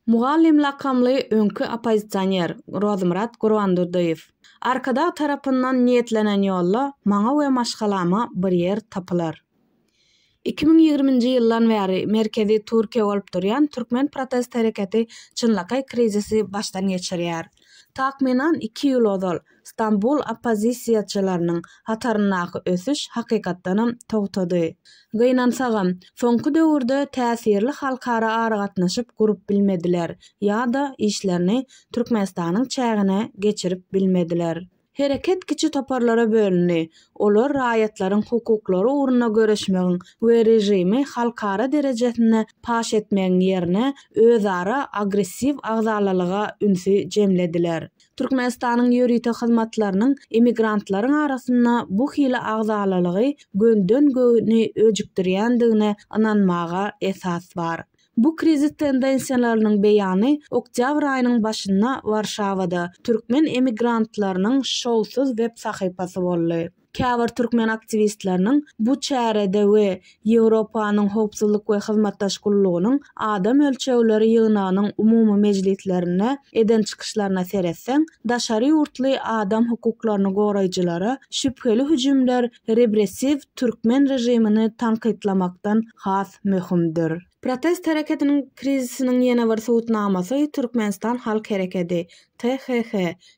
Mugallym lakamly öňki oppozisioner Rozmyrat Gurbandurdyýew, Arkadag tarapyndan niýetlenen ýolda maňa we maşgalama bir ýer tapylar. Iki müň ýigriminji ýyldan bäri merkezi Türkiýe bolup durýan türkmen protest hereketi çynlakaý krizisi başdan geçirýär. Takmynan iki ýyl ozal Stambul oppozisiýaçylarynyň hataryndaky ösüş hakykatdanam togtady. Gynansagam, soňky döwürde täsirli halkara aragatnaşyk gurup bilmediler ýa-da işlerini Türkmenistanyň çägine geçirip bilmediler. Hereket kiçi toparlara bölündi, olar raýatlaryň hukuklary ugrunda göreşmegiň we režimi halkara derejesinde paş etmegiň ýerine özara agressiw agzalalyga ünsi jemlediler. Türkmenistanyň ýörite hyzmatlarynyň emigrantlaryň arasynda bu hili agzalalygy gönden-göni öjükdirýändigine ynanmaga esas bar. Bu krizis tendensiýalarynyň beýany oktýabr aýynyň başynda Warşawada Türkmen emigrantlarynyň şowsuz web sahypasy boldy. Käbir türkmen aktiwistleriniň bu çärede we Ýewropanyň Howpsuzlyk we Hyzmatdaş gullugynyň Adam ölçegleri ýygnagynyň umumy mejlislerinde eden çykyşlaryna seretseň, daşary ýurtly adam hukuklaryny goraýjylara şübheli hüjümler repressiw türkmen režimini tankytlamakdan has möhümdir. Protest hereketiniň krizisiniň ýene bir subutnamasy Türkmenistan halk herekedi, THH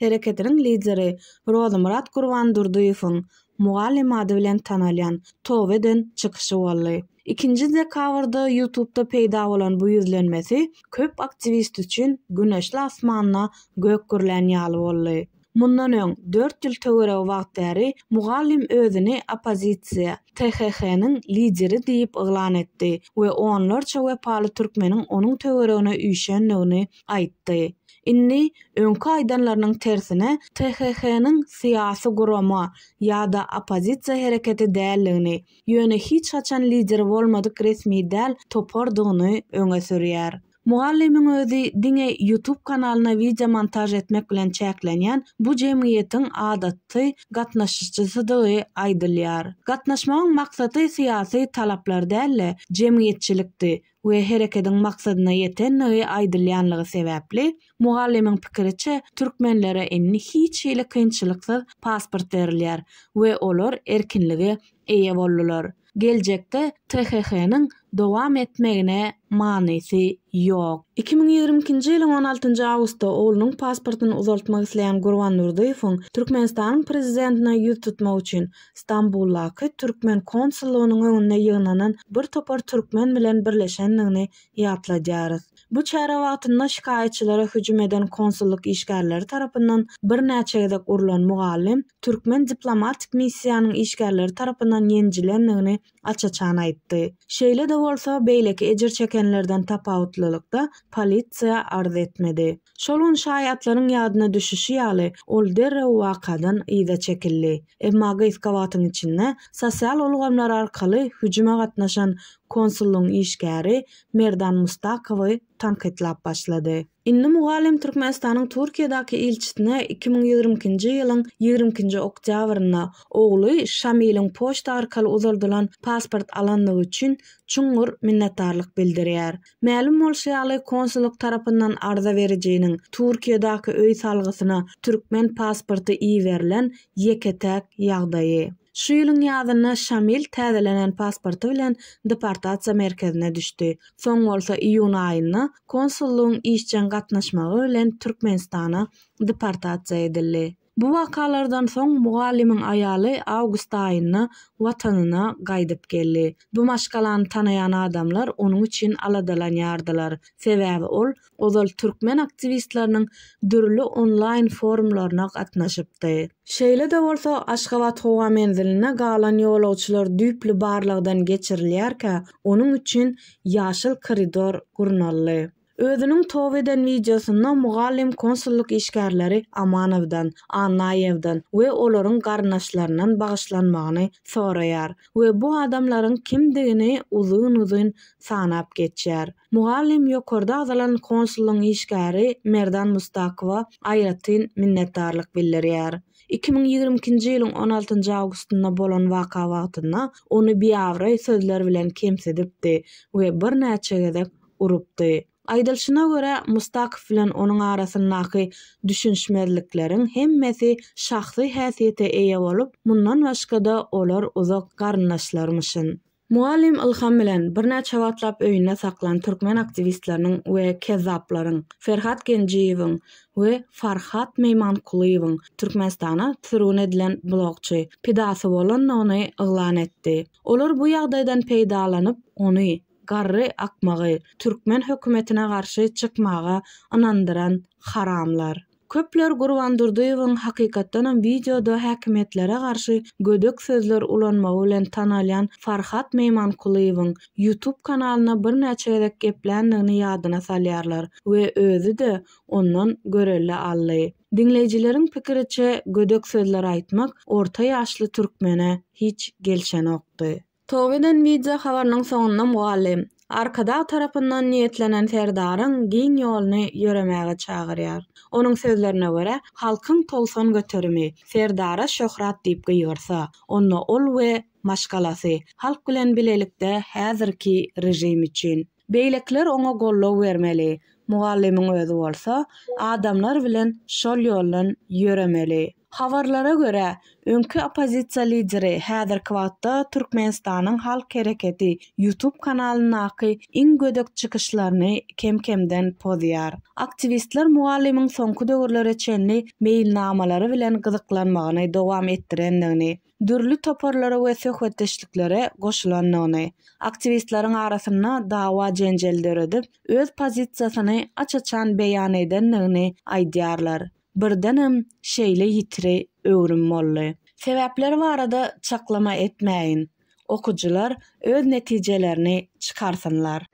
hereketiniň lideri Rozymyrat Gurbandurdyýewiň Mugallym ady bilen tanalýan toba eden çykyşy boldy. Ikinji dekabrda Ýutubda peýda bolan bu ýüzlenmesi köp aktiwist üçin güneşli asmanda gök gürlän ýaly boldy. Mundan öň, dört ýyl töweregi wagt bäri Mugallym özüni oppozisiýa, THH-nyň lideri diýip yglan etdi we onlarça wepaly türkmeniň onuň töweregine üýşendigini aýtdy. Indi öňki aýdanlarynyň tersine THH-nyň syýasy gurama ýa-da oppozisiýa hereketi däldigini, ýöne hiç haçan lideri bolmadyk resmi däl topardygyny öňe sürýär. Mugallymyň özi diňe YouTube kanalyna wideo montaž etmek bilen çäklenýän bu jemgyýetiň adaty gatnaşyjysydygy aýdylýar. Gatnaşmagyň maksady syýasy talaplar däl-de, jemgyýetçilikdi, we herekediň maksadyna ýetendigi aýdylýanlygy sebäpli, mugallymyň pikiriçe, türkmenlere indi hiç hili kynçylyksyz pasport berilýär we olar erkinlige eýe boldular. Geljekde THH-nyň dowam etmegine manysy ýok. Iki müň ýigrimi ikinji ýylyň on altynjy awgustda oglunyň pasportyny uzaltmak isleýän Gurbandurdyýewiň Türkmenistanyň prezidentine ýüz tutmak üçin Stambuldaky türkmen konsullygynyň öňünde ýygnanan bir topar türkmen bilen birleşendigini ýatladýarys. Bu çäre wagtynda şikaýatçylara hüjüm eden konsullyk işgärleri tarapyndan birnäçe gezek urlan mugallym türkmen diplomatik missiýanyň işgärleri tarapyndan ýenjilendigini aç-açan aýtdy. Şeýle-de bolsa, beýleki ejir çekenlerden tapawutlylykda, polisiýa arz etmedi. Şol gün şaýatlaryň ýadyna düşüşi ýaly, ol derrew wakadan yza çekildi. Emma gysga wagtyň içinde sosial ulgamlar arkaly hüjüme gatnaşan konsullygyň işgäri Merdan Mustakowy tankytlap başlady. Indi mugallym Türkmenistanyň Türkiýedäki ilçisine iki müň ýigrimi ikinji ýylyň ýigrimi ikinji oktýabrynda ogly Şamiliň poçta arkaly uzaldylan pasport alandygy üçin çuňňur minnetdarlyk bildirýär. Mälim bolşy ýaly, konsullyk tarapyndan arza berijiniň Türkiýedäki öý salgysyna türkmen pasporty iberilen ýeke-täk ýagdaýy. Şu ýylyň ýazynda Şamil täzelenen pasporty bilen deportasiýa merkezine düşdi. Soň bolsa iýun aýynda konsullygyň işjeň gatnaşmagy bilen Türkmenistana deportasiýa edildi. Bu wakalardan soň mugallymyň aýaly awgust aýynda Watanyna gaýdyp geldi. Bu maşgalany tanaýan adamlar onuň üçin aladalanýardylar. Sebäbi ol ozal türkmen aktiwistleriniň dürli onlaýn forumlaryna gatnaşypdy. Şeýle-de bolsa, Aşgabat howa menzilinde galan ýolagçylar düýpli barlagdan geçirilýärkä, onuň üçin ýaşyl koridor gurnaldy. Özüniň towp eden wideosynda mugallym konsullyk işgärleri Amanowdan, Annaýewden we olaryň garyndaşlaryndan bagyşlanmagyny soraýar. we bu adamlaryň kimdigini uzyn-uzyn sanap geçýär. Mugallym ýokarda agzalan konsullygyň işgäri Merdan Mustakowa aýratyn minnetdarlyk bildirýär. Iki müň ýigrimi ikinji ýylyň on altynjy awgustynda bolan waka wagtynda ony biabraý sözler bilen kemsidipdi we birnäçe gezek urupdy. Aýdylşyna görä, Mustakow bilen onuň arasyndaky düşünişmezlikleriň hemmesi şahsy häsiýete eýe bolup, mundan başga-da olar uzak garyndaşlarmyşyn. Mugallym Ylham bilen birnäçe wagtlap öýünde saklan türkmen aktiwistleriniň we kezzaplaryň, Ferhat Genjiýewiň we Farhat Meýmankulyýewiň Türkmenistana sürgün edilen blogçy, pidasy bolandygyny yglan etdi. Olar bu ýagdaýdan peýdalanyp, ony, Garry akmagy türkmen hökümetine garşy çykmaga ynandyran haramlar. Köpler Gurban Durdyýewiň hakykatdanam wideoda häkimiýetlere garşy gödek sözler ulanmagy bilen tanalýan Farhat Meýmankulyýewiň YouTube kanalynda birnäçe gezek gepländigini ýadyna salýarlar we özi-de ondan görelde aldy. Diňleýjileriň pikiriçe gödek sözler aýtmak orta ýaşly türkmene hiç gelşenokdy. Toba eden wideo habarynyň soňunda mugallym, Arkadag tarapyndan niýetlenen Serdaryň giň ýoluny ýöremäge çagyrýar. Onuň sözlerine görä, halkyň togsan göterimi Serdara şöhrat diýip gygyrsa, onda ol we maşgalasy halk bilen bilelikde häzirki režim üçin, Beýlekiler oňa goldaw bermeli, mugallymyň özi bolsa adamlar bilen şol ýoldan ýöremeli. Habarlara görä, öňki oppozisiýa lideri häzirki wagtda Türkmenistanyň Halk Hereketi YouTube kanalyndaky iň gödek çykyşlaryny kem-kemden pozýar. Aktiwistler mugallymyň soňky döwürlere çenli meýilnamalary bilen gyzyklanmagyny dowam etdirendigini, dürli toparlara we söhbetdeşliklere goşulandygyny, aktiwistleriň arasynda dawa-jenjel döredip, öz pozisiýasyny aç-açan beýan edendigini aýdýarlar. Birdenem şeýle ýitri öwrüm boldy. Sebäpleri barada çaklama etmäýin, okyjylar öz netijelerini çykarsynlar.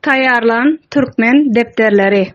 Taýýarlan türkmen depderleri.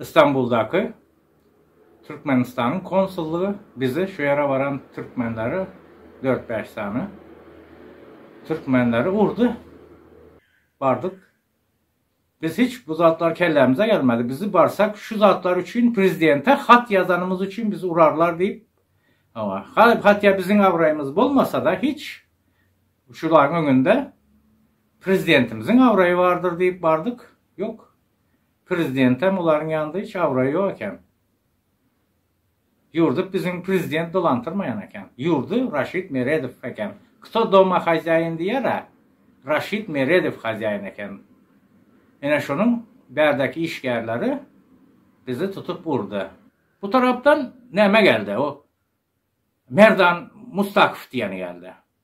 Istanbuldaky Türkmenistanyň konsullygy bize şu ýere baran türkmenleri dört-bäş sany türkmenleri urdy. Bardyk. Biz hiç bu zatlar kellämize gelmedi. Bizi barsak şu zatlar üçin prezidente hat ýazanymyz üçin bizi urarlar diýip, hawa, hatda biziň abraýymyz bolmasa-da hiç şularyň öňünde prezidentimiziň abraýy bardyr diýip bardyk. Ýok. Prezidentem olaryň ýanynda hiç abraýy ýok eken. Ýurdy biziň prezident dolantyrmaýan eken. Ýurdy Raşid Meredow eken. Kto doma hozýaýin diýer-ä, Raşid Meredow hozýaýin eken. Ine şonuň bärdäki işgärleri bizi tutup urdy. Bu tarapdan näme geldi, o Merdan Mustakow diýeni geldi.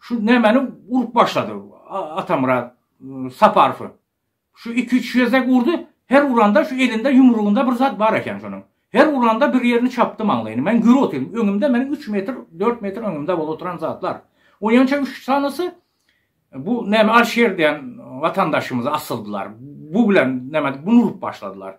Şu nämeni urup başlady Atamyrat Saparowy. Şu iki-üç gezek urdy, her uranda şu elinde ýumrugynda bir zat bar eken şonuň. Her uranda bir ýerini çapdy maňlaýyny. Men gür otyryn. Öňümde meniň üç metr, dört metr öňümde bolup oturan zatlar. Oýança üç sanysy bu näme Alşer diýen watandaşymyzy asyldylar. Bu bilen näme, bunu urup başladylar.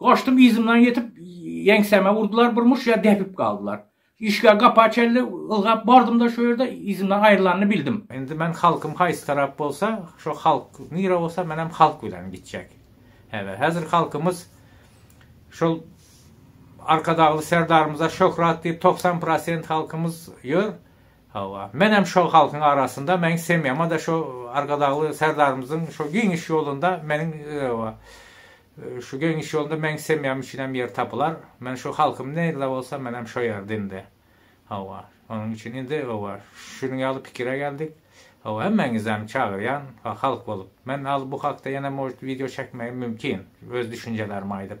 Goşdum yzymdan ýetip, ýeňsäme urdular, birmuş ýer depip galdylar. Işikä gapa çenli ylgap bardym-da şu ýerde yzymdan aýrylanyny bildim. Indi men halkym haýsy tarap bolsa, şo halk nire bolsa menem halk bilen gitjek. Häzir, häzir halkymyz şol Arkadagly Serdarymyza şöhrat diýip togsan prosent halkymyz ýör. Hawa, menem şo halkyň arasynda, meň semýama-da şo Arkadagly Serdarymyzyň şo giňiş ýolunda meniň Şu geňiş ýolunda meň semýam üçinem ýer tapylar. Men şu halkym nirde bolsa menem şo ýerde indi. Hawa. Onuň üçin indi hawa şunuň ýaly pikire geldik. Hawa hemmäňizem çagyrýan halk bolup. Men al bu hakda ýene может wideo çekmegim mümkin. Öz düşünjelerimi aýdyp.